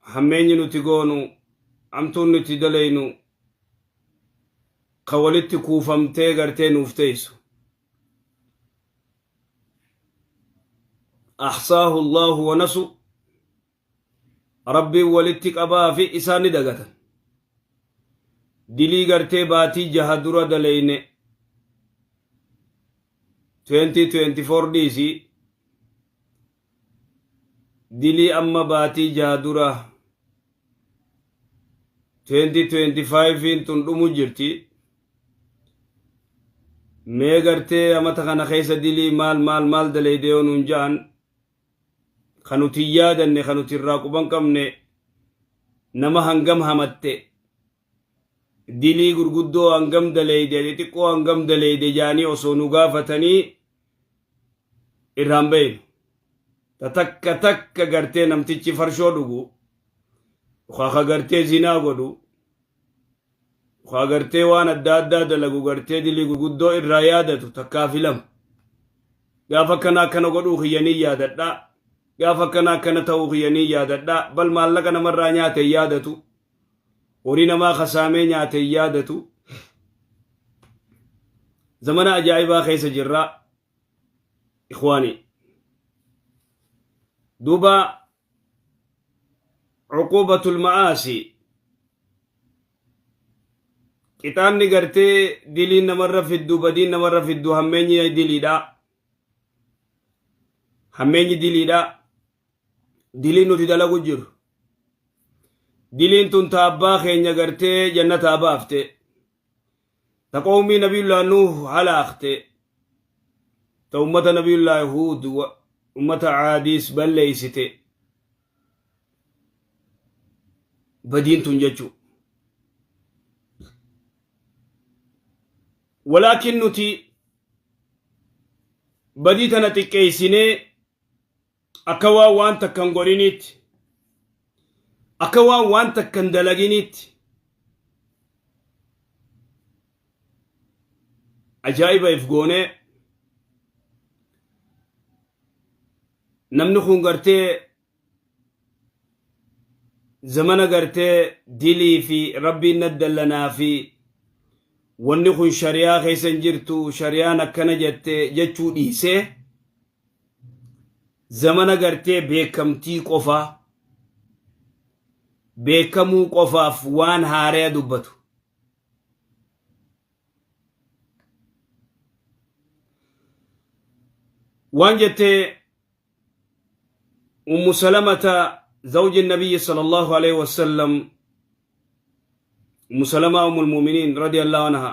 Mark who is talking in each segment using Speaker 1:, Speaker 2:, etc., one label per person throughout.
Speaker 1: hammeenyi nuti goonu, hamtuun nuti dalaynu ka walitti kuufamtee gartee nuuf teeysu. Ahsaahu Allaahu wa nasu Rabbiin walitti qabaa fi isaan ni dagatan. Dilii gartee baatii jaha dura dalayne 2024 dhiisii dilii amma baatii jaha dura 2025 tun dhumu jirti mee gartee amata kana keessa dilii maal maal maal daleyde yoo nuun ja'an kan nuti hin yaadanne kan nuti irraa quban qabne nama hangam hamatte Dilii gurguddoo hangam daleeyde xixiqqoo hangam daleeyde jaanii osoo nu gaafatanii irraan beeynu. Ta takka takka gartee namtichi farshoo dhugu, yookaa ka gartee zinaa godhu, yookaa gartee waan adda addaa dalagu gartee dilii gurguddoo irraa yaadatu takkaa fi lama. Gaafa akkana akkana godhuu kiyya ni yaadadha. Gaafa akkana akkana ta'uu kiyya ni yaadadha. Bal maallaqa namarraa nyaate hin yaadatu. Horii namaa ka saamee nyaate hin yaadatu. Zamana ajaa'ibaa keessa jirra ikhwaanii. Duuba cuquubatul ma'aasi qixaanni gartee diliin namarra fiddu badiin namarra fiddu hammeenyi diliidha. Hammeenyi diliidha. diliin nuti dalagu jiru diliin tun ta abbaa keenya gartee jannataa baafte ta qawmii nabiyullaa nuuh halaakte ta ummata nabiyullaa huud wa- ummata caadiis balleeysite badiin tun jechuu walaakin nuti badii tana xiqqeeysinee akka waan waan takka hin godhiniitti akka waan waan takka hin dalaginiitti ajaa'iba if goonee namni kun gartee zamana gartee dilii fi rabbiin naddallanaa fi wanni kun shari'aa keessa hin jirtu shari'aan akkana jette jechuu dhiisee zamana gartee beekamtii qofaa beekamuu qofaaf waan haaraya dubbatu. Waan jettee Ummu Salamata zawji Nabiyyi sallallahu alaihi wasallam Ummu Salamaa Ummul Mu'miniin radiyallahu anha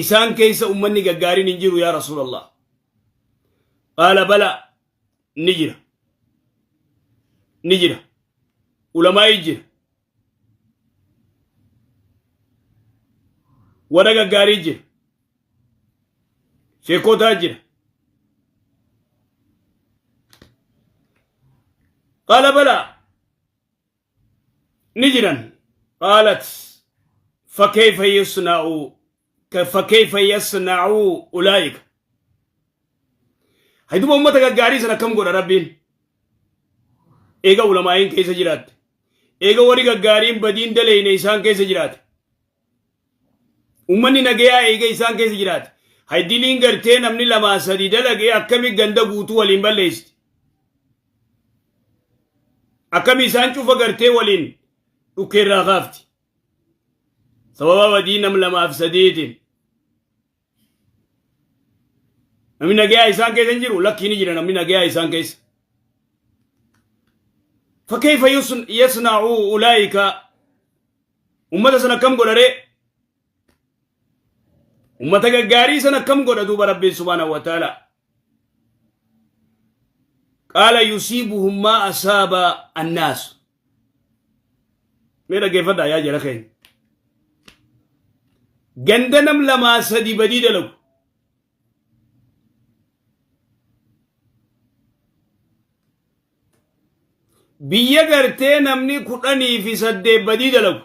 Speaker 1: isaan keessa ummanni gaggaariin hin jiru yaa rasuulallah qaala bala ni jira ni jira ulamaa'ii jira warra gaggaarii jira sheekotaa jira qaala bala ni jiran qaalat fakkeeyfa yasna'u fakkeeyfa yasna'u ulaa'ika hayduba ummata gaggaarii san akkam godha rabbiin eega ulamaa'iin keessa jiraatte eega warri gaggaariin badiin daleyne isaan keessa jiraate Uummanni nagayaa eegee isaan keessa jiraate. Haydiliin gartee namni lamaa sadii dalagee akkami ganda guutuu waliin balleessti. Akkami isaan cufa gartee waliin dhukkeerraa kaafti. Sababa badii nam lamaaf sadiitiin. Namni nagayaa isaan keessa hin jiru lakkii ni jira namni nagayaa isaan keessa. Fakkeeffa yasna'u ulaayika ummata san akkam godharee? Ummata gaggaarii san akkam godha duuba rabbiin subhaanahu wa ta'ala. Qaala yusiibuhum maa asaaba annaasu. mee dhaggeeffadhaa yaa jara keenya ganda nam lamaa sadi badii dalagu biyya gartee namni kudhanii fi saddeet badii dalagu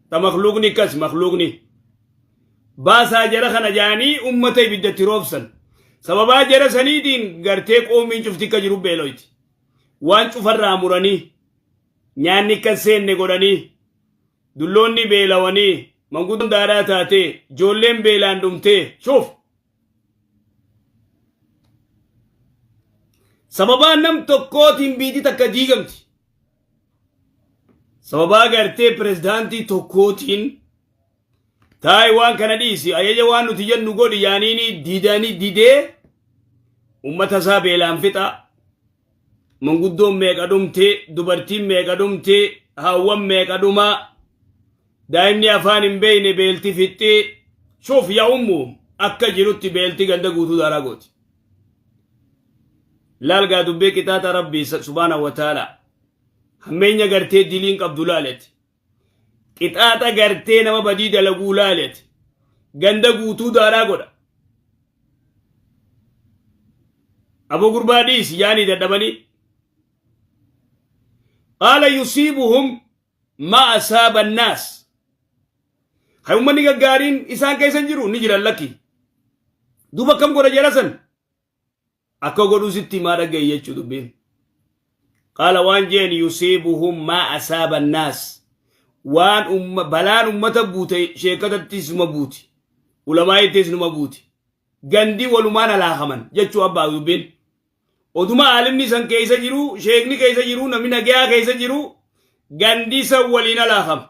Speaker 1: ta makluuqni akkas makluuqni baasaa jara kana jaanii ummata ibiddatti roobsan sababaa jara saniitiin gartee qoomiin cufti akka jiru beeloyti waan cufarraa muranii nyaanni akka seenne godhanii dulloonni beelawanii manguddoon daaraa taatee joolleen beelaan dhumtee shuuf sababaa nam tokkootiin biiti takka diigamti sababaa gartee pirezidaantii tokkootiin taa'e waan kana dhiisi ajaja waan nuti jennu godhi yaaniini didani didee ummata isaa beelaan fixaa manguddoon meeqa dhumti dubartiin meeqa dhumti haawwan meeqa dhuma daa'imni afaan hin beeyne beelti fixxi shuf ya ummu akka jirutti beelti ganda guutuu daaraa gooti laalgaa dubbii qixaaxa rabbii subhaana wa ta'ala hammeenya gartee diliin qabdu laaleti Qixaaxa gartee nama badii dalaguu laali ati. Ganda guutuu daaraa godha. Aboo gurbaa dhiisi yaanii dadhabanii. Qaala yusiibuhum maa asaaba annaas. Kan uummanni gaggaariin isaan keessa hin jiru ni jiran lakki. Duuba akkam godha jara san? akka godhu sitti himaa dhaga'i jechuu dubbiin qaala waan jeen yusiibuhum maa asaaba annaas waan umma- balaan ummata buute sheekatattis numa buuti ulamaa'ittis numa buuti gandi walumaan halaakaman jechuu abbaa dubbiin oduma aalimni san keessa jiru sheekni keessa jiru namni nagayaa keessa jiru gandi san waliin halaakama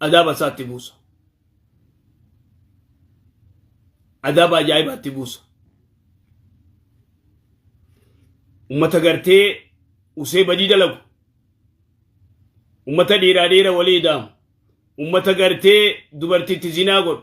Speaker 1: adaaba isaa itti buusa. Adaaba ajaa'ibaa itti buusa. Uummata gartee usee badii dalagu. Uummata dhiiraa dhiira walii idaamu. Uummata gartee dubartiitti zinaa godhu.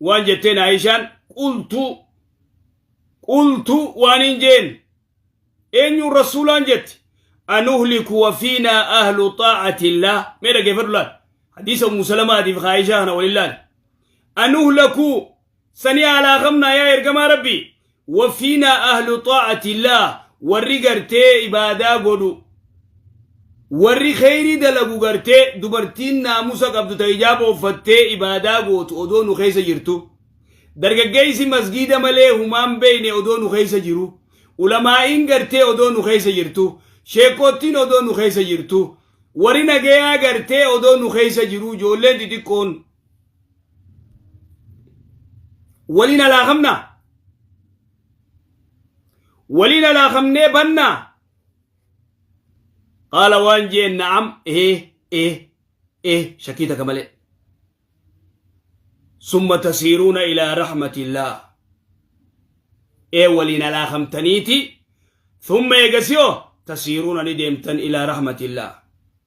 Speaker 1: waan jetteen Aayishaan qultuu qultuu waan hin jeen eenyuun rasuulaan jetti anuhliku wafiinaa ahlu xaa'atillaa mee dhaggeeffadhu laal hadiisa ummu salamaatiif Aayishaa kana waliin laal anuhlaku sanii haalaa qabnaa yaa ergamaa rabbii Wafiinaa ahlu xaa'atillah warri gartee ibaadaa godhu warri kheyrii dalagu gartee dubartiin naamusa qabdu ta hijaaba uffattee ibaadaa gootu odoo nu keessa jirtu dargaggeeysi masgiida malee humaan beeyne odoo nu keessa jiru ulamaa'iin gartee odoo nu keessa jirtu sheekkoottiin odoo nu keessa jirtu warri nagayaa gartee odoo nu keessa jiru ijoolleen xixiqqoon waliin alaa qabnaa waliin alaa qabnee bannaa qaala waan jeen na'am ee ee ee shakkii takka malee summa tasiiruuna ilaa rahmatillaah ee waliin alaa qabtaniiti summa eegasiyoo tasiiruuna ni deemtan ilaa rahmatillaah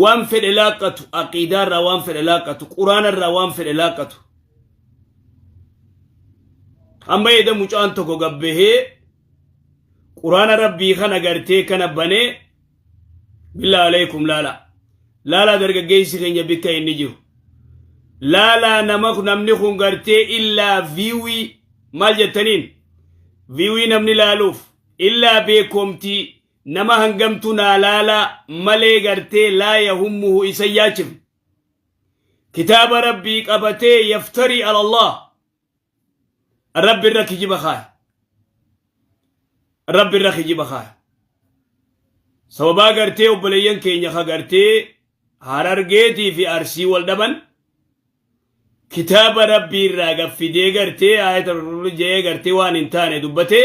Speaker 1: waan fedhe laaqqatu aqiidaa irraa waan fedhe laaqqatu quraana irraa waan fedhe laaqqatu amma eeda mucaan tokko gabbahee quraana rabbii kana gartee kana banee billaa alaykum laala laalaa dargaggeessi keenya bikka inni jiru laalaa nama namni kun gartee illaa viiwii maal jettaniin viiwii namni laaluuf illaa beekomtii Nama hangamtu naa laalaa malee gartee laa yahummuhu isa hin yaachifne. Kitaaba Rabbii qabatee yaftarii ala Allah. Rabbi irra kijiba kaaya. Rabbi irra kijiba kaaya. Sababaa gartee obboleeyyan keenya ka gartee harargeetii fi arsii wal dhaban kitaaba Rabbii irraa gaffidee gartee ayata jee gartee waan hin taane dubbatee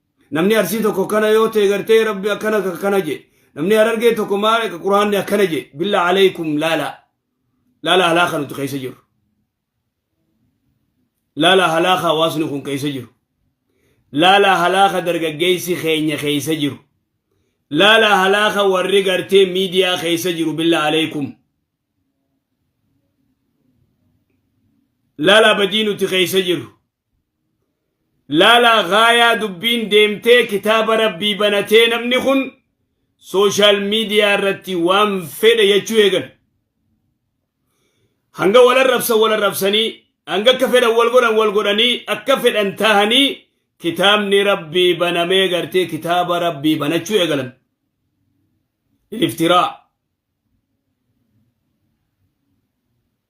Speaker 1: Namni Arsii tokko akkana yoo ta'e gartee rabbi akkana ka- akkana jee. Namni Harargee tokko maal quraanni akkana jee. Billaa alaykum laala. Laala halaaka nuti keessa jiru. Laala halaaka hawaasni kun keessa jiru. Laala halaaka dargaggeessi keenya keessa jiru. Laala halaaka warri gartee miidiyaa keessa jiru billaa alaykum. Laala badii nuti keessa jiru. Laalaa gaayaa dubbiin deemtee kitaaba rabbii banatee namni kun sooshaal miidiyaa irratti waan fedhe jechuu eegale. Hanga wal arrabsan wal arrabsanii hanga akka fedhan wal godhan wal godhanii akka fedhan taahanii kitaabni rabbii banamee gartee kitaaba rabbii banachuu eegalan. Iliftiraa.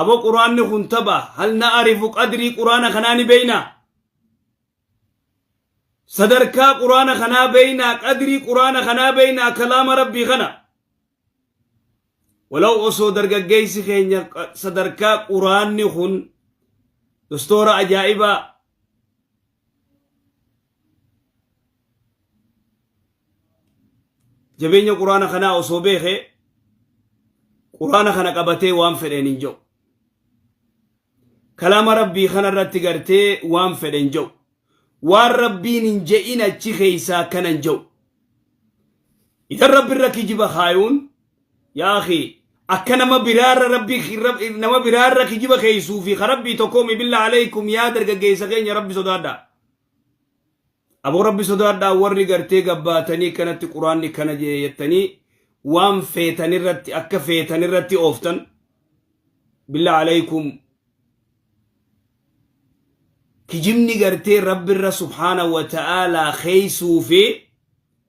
Speaker 1: Abo quraanni kun tapha hal na arifu qadrii quraana kanaa ni beeyna sadarkaa quraana kanaa beeyna qadrii quraana kanaa beeyna kalaama rabbii kana walaw osoo dargaggeeysi keenya sadarkaa quraanni kun dostoora ajaa'ibaa jabeenya quraana kanaa osoo beeke quraana kana qabatee waan fedheen hin jedhu kalaama rabbii kana irratti gartee waan fedhe hin jedhu waan rabbiin hin je'in achi keeysaa akkana hin jedhu idan rabbi irra kijiba kaayuun yaa akhi akka nama biraarra rabbii ki- rab- nama biraarra kijiba keeysuu fi ka rabbii tokkoomi billaa aleykum yaa dargaggeeysa keenya rabbi sodaadha aboo rabbi sodaadha warri gartee gabbaatanii kanatti quraanni kana jee jettanii waan feetan irratti akka feetan irratti ooftan billaa aleykum kijibni gartee rabbirra subhaana wa ta'aalaa keeysuu fi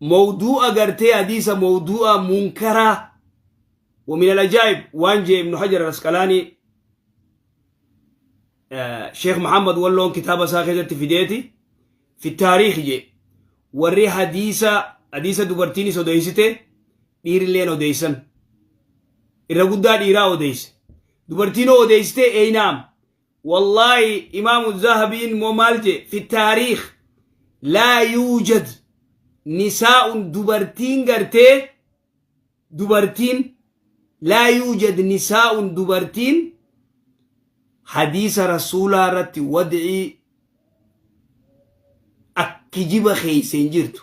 Speaker 1: mawduu'a gartee hadiisa mawduu'a munkaraa wa min al-ajaa'ib waan jee ibnu hajar al-asqalaanii sheekh muhammad walloon kitaaba isaa keessatti fideeti fi taariikh jee warri hadiisa hadiisa dubartiinis odeessite dhiirilleen odeessan irra guddaa dhiiraa odeesse dubartiin odeessite eeynaam Wallaahi imaamu zahabiin moo maal jee fi taariikh laa yuujad nisaa'un dubartiin gartee dubartiin laa yuujad nisaa'un dubartiin hadiisa rasuulaa irratti wad'ii ak kijiba keeyse hin jirtu